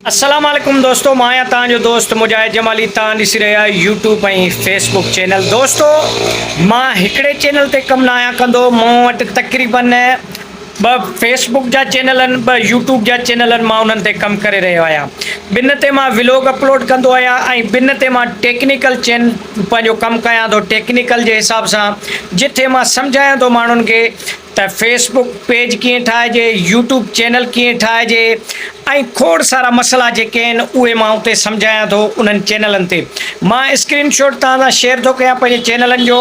السلام عليڪم دوستو مان آهيان توهان جو دوست مجاهد جمالي توهان ڏسي رهيا آهيو يوٽيوب ۽ فيس بڪ چينل دوستو مان هڪڙي چينل تي ڪم نه آهيان ڪندو مون وٽ تقريبن ٻه فيس بڪ جا چينل آهن ٻه يوٽيوب جا چينل آهن مان انهن تي ڪم ڪري رهيو آهيان ٻن تي مان ولوگ اپلوڊ ڪندو آهيان ۽ ٻن تي مان ٽيڪنيڪل چين پنهنجو ڪم ڪيان ٿو ٽيڪنيڪل جي حساب سان جتي مان سمجهايان ٿو ماڻهن کي ته فيس بوڪ پيج ڪيئن ٺاهجي، يوٽيوب چينل ڪيئن ٺاهجي ۽ کوڙ سارا مسئلا جيڪي آهن اهي مان اتي سمجهايان ٿو انهن چينلن تي مان اسڪرين شوٽ توهان سان شيئر ٿو ڪيان پنهنجي چينلن جو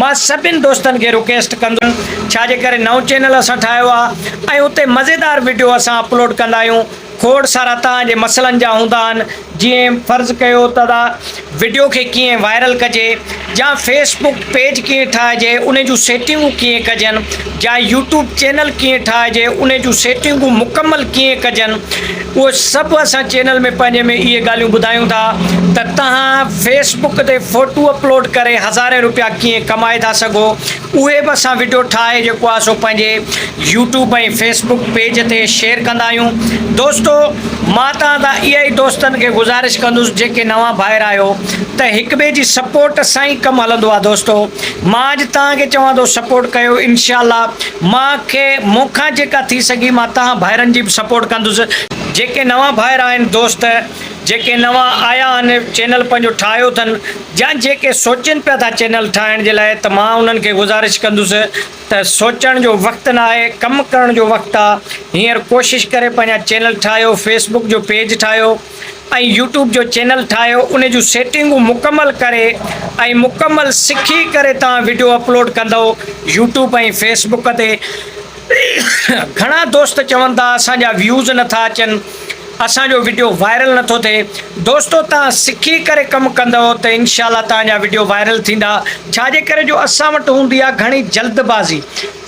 مان سڀين دوستن کي رڪيسٽ ڪندس ڇا جي ڪري نئون چينل اسان ٺاهيو آهي ۽ اتي مزيدار وڊيو اسان اپلوڊ ڪندا آهيون کوڙ سارا توهان جي مسئلن جا هوندا آهن جيئن فرض ڪيو ته وڊيو کي ڪيئن وائرل ڪجي يا فيس بڪ پيج ڪيئن ٺاهجي انهي جون سيٽنگون ڪيئن ڪجن يا يوٽيوب چينل ڪيئن ٺاهجي انهي جون سيٽنگون مڪمل ڪيئن ڪجن اهي سڀ اسان چينل ۾ پنهنجي ۾ اهي ڳالهيون ٻڌايون ٿا ته تهان فيس بڪ تي فوٽو اپلوڊ ڪري هزارين روپيا ڪيئن ڪمائي ٿا سگهو اهي به اسان وڊيو ٺاهي جيڪو آهي سو پنهنجي يوٽيوب ۽ فيس بڪ پيج تي شيئر ڪندا آهيون دوستو مان توهان تان اها ئي دوستن کي گذارش ڪندس جيڪي نوان ڀائر آهيو ته هڪ ٻئي جي سپورٽ سان ئي ڪم هلندو آهي دوستو مان اڄ توهان کي چوان ٿو سپورٽ ڪيو انشاء الله مان کي مون کان جيڪا ٿي سگهي مان توهان ڀائرن جي به سپورٽ ڪندس جيڪي نوان ڀائر آهن دوست جيڪي نوان آيا آھن چينل پنھنجو ٺاھيو اٿن يا جيڪي سوچين پيا ٿا چينل ٺاھڻ جي لاء ته مان انھن کي گذارش ڪندس ته سوچڻ جو وقت ناھي ڪم ڪرڻ جو وقت آ ھينئر ڪوشش ڪري پنھنجا چينل ٺاھيو فيسبڪ جو پيج ٺاھيو ۽ يوٽيوب جو چينل ٺاھيو انھي جون سيٽنگون مڪمل ڪري ۽ مڪمل سکي ڪري تھان وڊيو اپلوڊ ڪندؤ يوٽيوب ۽ فيسبڪ تي گھڻا دوست چون ٿا اسان جا ويوز نٿا اچن. اسان جو وڊيو وائرل نٿو ٿئي دوستو تهان سکي ڪري ڪم ڪندئو ته انشاء الله تهان جا وڊيو وائرل ٿيندا ڇا جي ڪري جو اسان وٽ هوندي آهي گهڻي جلد بازي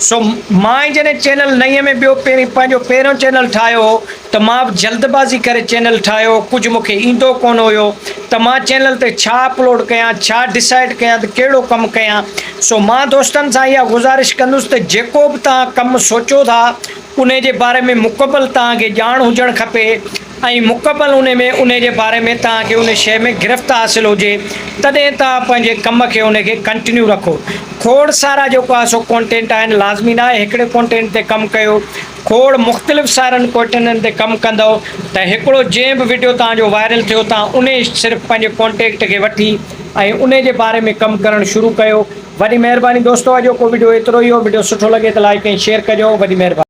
سو مان جڏهن چينل نئين ۾ ٻيو پهرين پنهنجو پهريون چينل ٺاهيو هو ته مان به جلد بازي ڪري چينل ٺاهيو ڪجهه مون کي ايندو ڪونه هيو ته مان چينل تي ڇا اپلوڊ ڪيان ڇا ڊسائيڊ ڪيان ته ڪهڙو ڪم ڪيان سو مان دوستن سان اها گذارش ڪندس ته جيڪو به تهان ڪم سوچو ٿا انهي جي باري ۾ مڪمل توهان کي ڄاڻ هجڻ کپي ۽ مڪمل انهي ۾ انهي جي باري ۾ توهان کي انهي شيء ۾ گرفت حاصل هجي تڏهن توهان پنهنجي ڪم کي انهي کي ڪنٽنيو رکو کوڙ سارا جيڪو آهي سو ڪونٽينٽ آهن لازمي نه آهي هڪڙي ڪونٽينٽ تي ڪم ڪيو کوڙ مختلف سارن ڪونٽينٽن تي ڪم ڪندؤ ته هڪڙو جنهن به وڊيو توهان جو وائرل ٿيو توهان انهي صرف پنهنجي ڪونٽينٽ کي وٺي ۽ انهي جي باري ۾ ڪم ڪرڻ شروع ڪيو وڏي مهرباني دوستو اڄوڪو وڊيو ايترو ئي هو وڊيو سٺو لڳي ته لائيڪ ۽ شيئر ڪجو وڏي مهرباني.